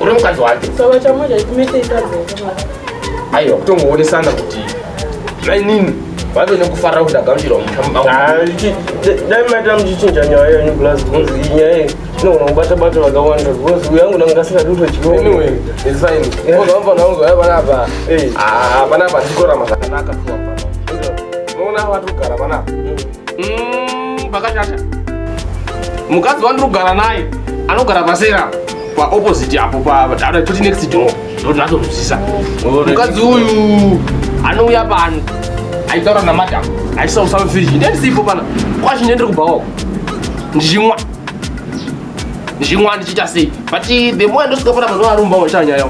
uri mukadzi wake saka chamoja chimete ikadzi aiwa kutongoonesana kuti mainini vave nekufarira kuti agamuchirwa mudai maita muchichinja nyaya yenyu plus bcause iyi nyaya iyi inogona kubata bata vakawanda bcause uyu yangu ndanga ndasingadi kutochiooapanapa panapa ndikorama zvakanaka unoona vatogara panapa Mm, pakashata. Mukadzi wandiri kugara naye anogara pasera pa opposite apo pa dada toti next door. Ndoti natozwisisa. Mukadzi uyu anouya pano aitaura namadam aisa usawe firiji ndendisipo pana kwacho ndendiri kubva wako ndichimwa ndichimwa ndichiita sei but the more ndosvika pana mazuva arumba wachanyaya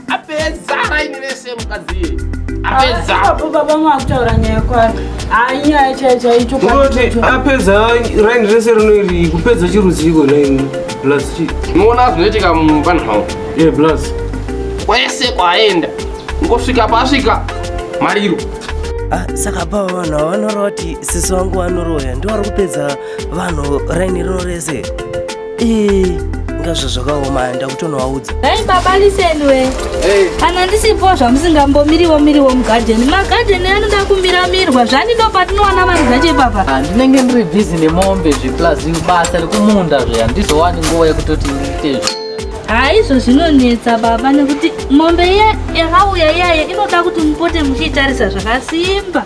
apedza raini rese mukadzi iye apedza Apo baba mwakutaura nyaya kwake. Hayi nyaya chaiyo chaicho. Unoti apedza raini rese rinoiri kupedza chirudziko naini plus chi unoona zvinoitika mumba nhau ye plus kwese kwaaenda ngosvika paasvika mariro Ah, saka pa vanhu ava vanoroti sisi vangu vanoroya ndivari kupedza vanhu raini rino rese ndazvo zvakaoma handa kutonovaudza dai baba lisendwe kana ndisipo zvamusingambomiriwo miriwo mugadheni magadheni anoda kumiramirwa zvani ndo patinowana vanhu zvacho ipapa ah, ndinenge ndiri bhizi nemombe zveplus basa rekumunda zve handizowani nguva yekutoti ndiite haizvo ah, zvinonetsa baba nekuti mombe iya yakauya iyaye inoda kuti mupote muchiitarisa zvakasimba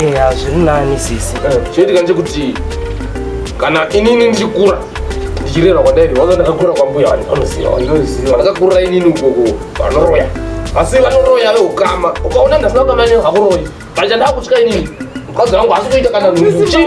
eya eh, zviri nani sisi eh, chinoitika ndechekuti kana inini ndichikura ndichirerwa kwandairi wanga ndakakura kwambuya vanhu vanoziva vandakakurira inini ukoko vanoroya asi vanoroya veukama ukaona ndasina ukama inini hakuroyi pacha ndakutya inini mukadzi wangu asi kuita kana nhuchii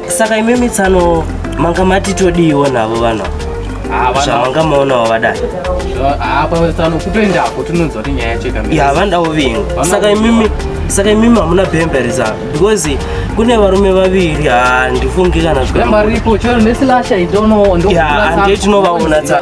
saka imimi tsano manga matitodiiwo navo vanhu zvamanga maonawo vadai ya vandawo vingu saka imimi saka imimi hamuna bhemberesa because kune varume vaviri handifungi kana zvaandei tinovaona tsa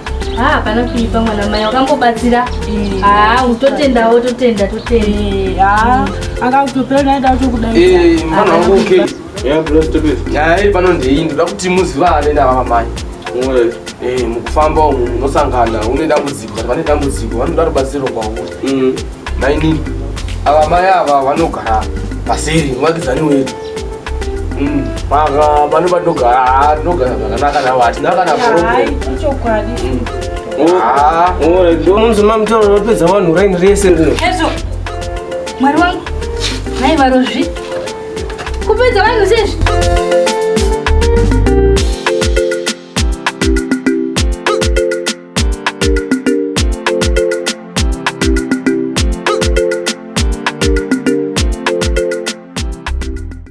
haa ah, pana kuipa mwana mai wakambobatsira haa ah, utotendawo totenda totenda haa ah, anga kutopera naye dakutokudaimwana wangu okay yaaai pano ndei ndoda kuti muziva anoenda vava mai eh, mukufamba umu munosangana une dambudziko kana vane dambudziko vanoda rubatsiro kwauwe mm. mainini ava mai ava vanogara paseri muvakidzani wedu maka vanhu vanogara vanogara zvakanaka navo hatina kana unonzi mamutoro vapedza vanhu raini rese rino mwari wangu nai varozvi kupedza vanhu sezvi